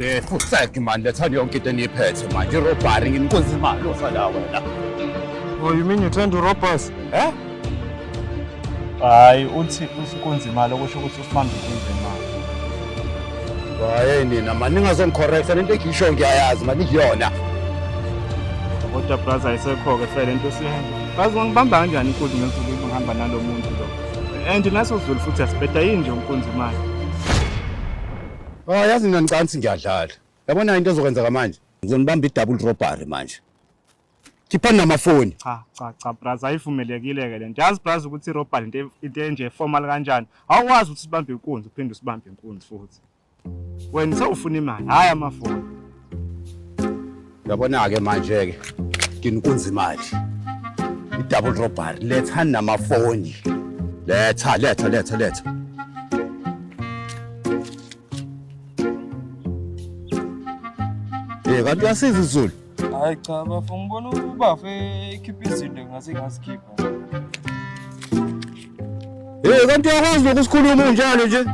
Eh, futhi manje lethani yonke into eniyiphethe manje irobhari nginkunzi imali osala wena Oh, you mean you trying to rob us? Eh? Hayi uthi usikunzi imali okusho ukuthi manje uze manje Hayi nina mani ningazongicorrecta lento engiyisho ngiyayazi mani kuyona. kodwa plus ayisekho-ke fele into esiyenza bazi ngibamba kanjani inkunzi ngensuku ngihamba nalo muntu lo and naso zulu futhi asibheda yini nje umkunzi imali Ah yazi mina ngicansi ngiyadlala. Yabona into ezokwenzeka manje. Ngizonibamba i-double robbery manje. khiphani namafoni cha cha cha braza ayivumelekile ke lento yazi braza ukuthi irobha lento into enje formal kanjani awukwazi ukuthi sibambe inkunzi uphinde usibambe inkunzi futhi wena sewufuna imali hayi amafoni yabona-ke manje-ke nginkunzi imali i-double robbery lethani namafoni letha letha letha letha Eh kanti uyasiza izulu. Hayi cha bafo ngibona ubafo ekhipha izinto ngase ngazikhipha. Hey kanti uyakwazi lokhu sikhuluma unjalo nje?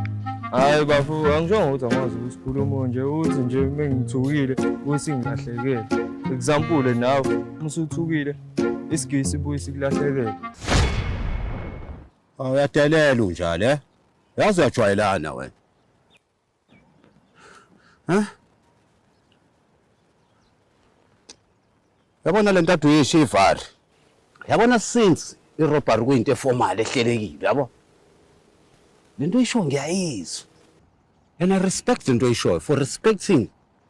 Hayi bafo angishongo ukuthi angikwazi ukusikhuluma nje uthi nje mengithukile usingilahlekele. Example nawe musuthukile isigisi sibuye sikulahlekele. Aw uyadelela unjalo eh? Yazi uyajwayelana wena. Huh? Yabona le ntathu yeshe ivari. Yabona since irobbery kuyinto eformal ehlelekile yabo. Le nto isho ngiyayizwa. And I respect the nto oyishoyo for respecting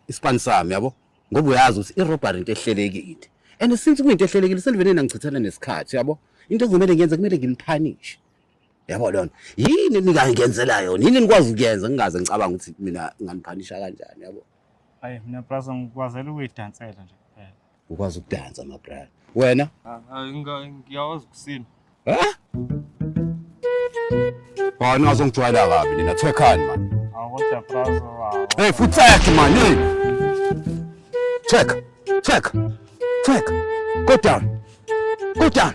ispan sami yabo ngoba uyazi ukuthi irobbery into ehlelekile. And since kuyinto ehlelekile selivele nangichithana nesikhathi yabo. Into ekumele ngiyenze kumele nginiphanish. yabo lona yini ningangenzela yona yini nikwazi ukuyenza ngingaze ngicabanga ukuthi mina nganiphanisha kanjani yabo hayi mina brasa ngikwazela ukuyidansela nje kuphela ukwazi ukudansa mabrasa wena ah, ah, ngiyawazi kusina hayi ningazongijwayela kabi nina thwekhani mani kodwa brasa hey futhi sakhe mani check check check go down go down